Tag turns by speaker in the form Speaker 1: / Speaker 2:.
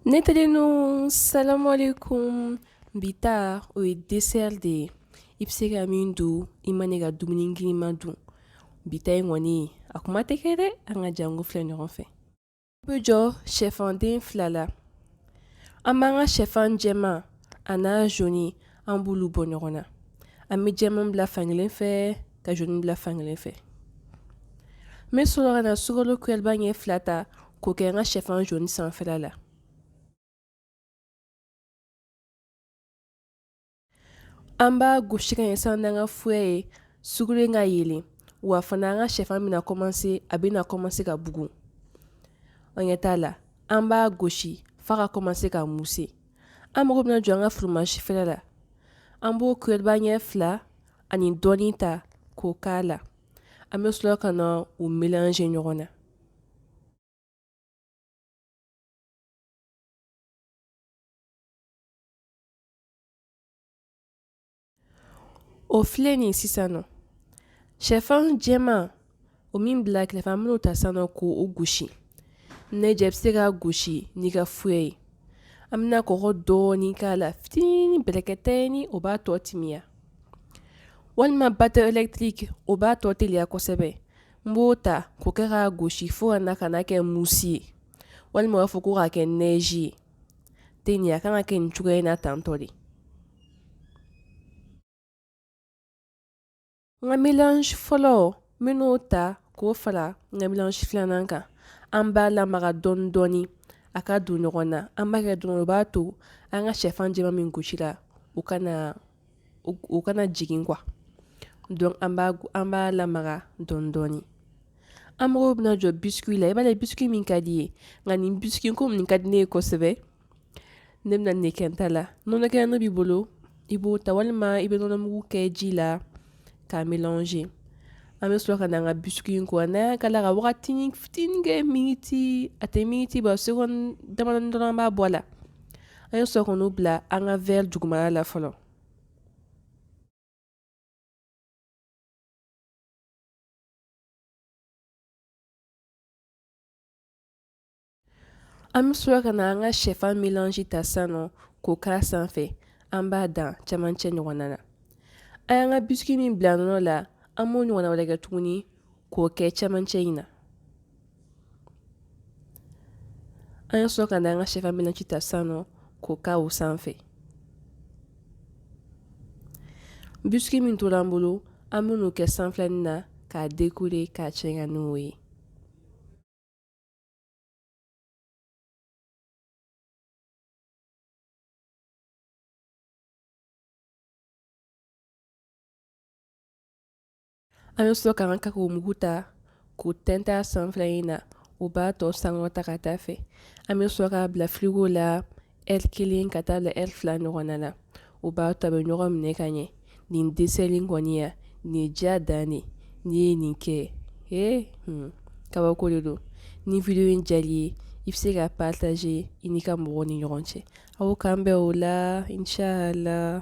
Speaker 1: Ne terinu salamu alekum bi ta o ye desɛri de ye i bɛ se ka min dun i man'i ka dumuni girinman dun bi ta in kɔni a kuma tɛ kɛ dɛ an ka janko filɛ ɲɔgɔn fɛ i bɛ jɔ shɛfanden fila la an b'an ka shɛfan jɛman a n'a zoni an b'olu bɔ ɲɔgɔn na an bɛ jɛman bila fankelen fɛ ka zoni bila fankelen fɛ n bɛ sɔrɔ ka na sukaro kuyɛriba ɲɛ fila ta k'o kɛ n ka shɛfan zoni sanfɛla la an b'a gosi ka ɲɛ san n'an ka fuyɛ ye sukaro in ka yelen wa fana an ka shɛfan bɛna kɔmanse a bɛna kɔmanse ka bugu an ɲɛ t'a la an b'a gosi f'a ka kɔmanse ka muse an mago bɛna jɔ an ka furomazi fɛrɛ la an b'o kuyɛriba ɲɛ fila ani dɔɔnin ta k'o k'a la an bɛ sɔrɔ ka na o melanze ɲɔgɔn na O filɛ nin sisan nɔ shɛfan jɛman o min bila kɛrɛfɛ an bɛn'o ta sisan nɔ k'o gosi n'i diya i bɛ se k'a gosi n'i ka fuyɛ ye an bɛna kɔgɔ dɔɔnin k'a la fitinin bɛrɛkɛtɛnin o b'a tɔ timiya walima batɛri elɛkitiriki o b'a tɔ teliya kosɛbɛ n b'o ta k'o kɛ k'a gosi fo ka na ka na kɛ musi ye walima u b'a fɔ ko k'a kɛ nɛzi ye ten a kan ka kɛ nin cogoya in na tantɔ de n ka melanzi fɔlɔ n bɛn'o ta k'o fara n ka melanzi filanan kan an b'a lamaga dɔɔnin dɔɔnin a ka don ɲɔgɔn na an b'a kɛ dɔrɔn o b'a to an ka shɛfan jɛman min gosila o kana o kana jigin kuwa dɔnki an b'a lamaga dɔɔnin dɔɔnin an mago bɛna jɔ bisiki la i b'a ye bisiki min ka di i ye nka nin bisiki ko nin ka di ne ye kosɛbɛ ne bɛna nin de kɛ n ta la nɔnɔ kɛnɛ b'i bolo i b'o ta walima i bɛ nɔnɔmugu kɛ ji la k'a melanze an bɛ sɔrɔ ka na an ka bisiki in ko n'an y'a k'a la ka waatinin fitinin kɛ miniti a tɛ miniti bɔ segɔndi dɔrɔn an b'a bɔ a la An ye sɔrɔ k'o bila an ka wɛri duguma la fɔlɔ an bɛ sɔrɔ ka na an ka shɛfan melanzi ta san nɔ k'o k'a ra sanfɛ an b'a dan cɛmancɛ ɲɔgɔnna na an y'an ka bisiki min bila nɔnɔ la an b'o ɲɔgɔnna wɛrɛ kɛ tuguni k'o kɛ cɛmancɛ in na An ye sɔrɔ ka na an ka sɛfan melanzi ta sisan nɔ k'o kɛ o sanfɛ bisiki min tora an bolo an bɛn'o kɛ sanfɛlanin na k'a dekore k'a cɛɲa n'o ye An bɛ sɔrɔ ka an ka kakawo mugu ta k'o tɛntɛn a sanfɛlanin na o b'a tɔ sankɔrɔta ka taa fɛ an bɛ sɔrɔ k'a bila firigo la eri kelen ka taa bila eri fila ɲɔgɔnna na o b'a to a bɛ ɲɔgɔn minɛ ka ɲɛ nin desɛri in kɔni ya nin diya dan de n'i ye nin kɛ e kabako de don ni wideyo in diyar'i ye i bɛ se ka pataze i n'i ka mɔgɔw ni ɲɔgɔn cɛ aw k'an bɛn o la inshallah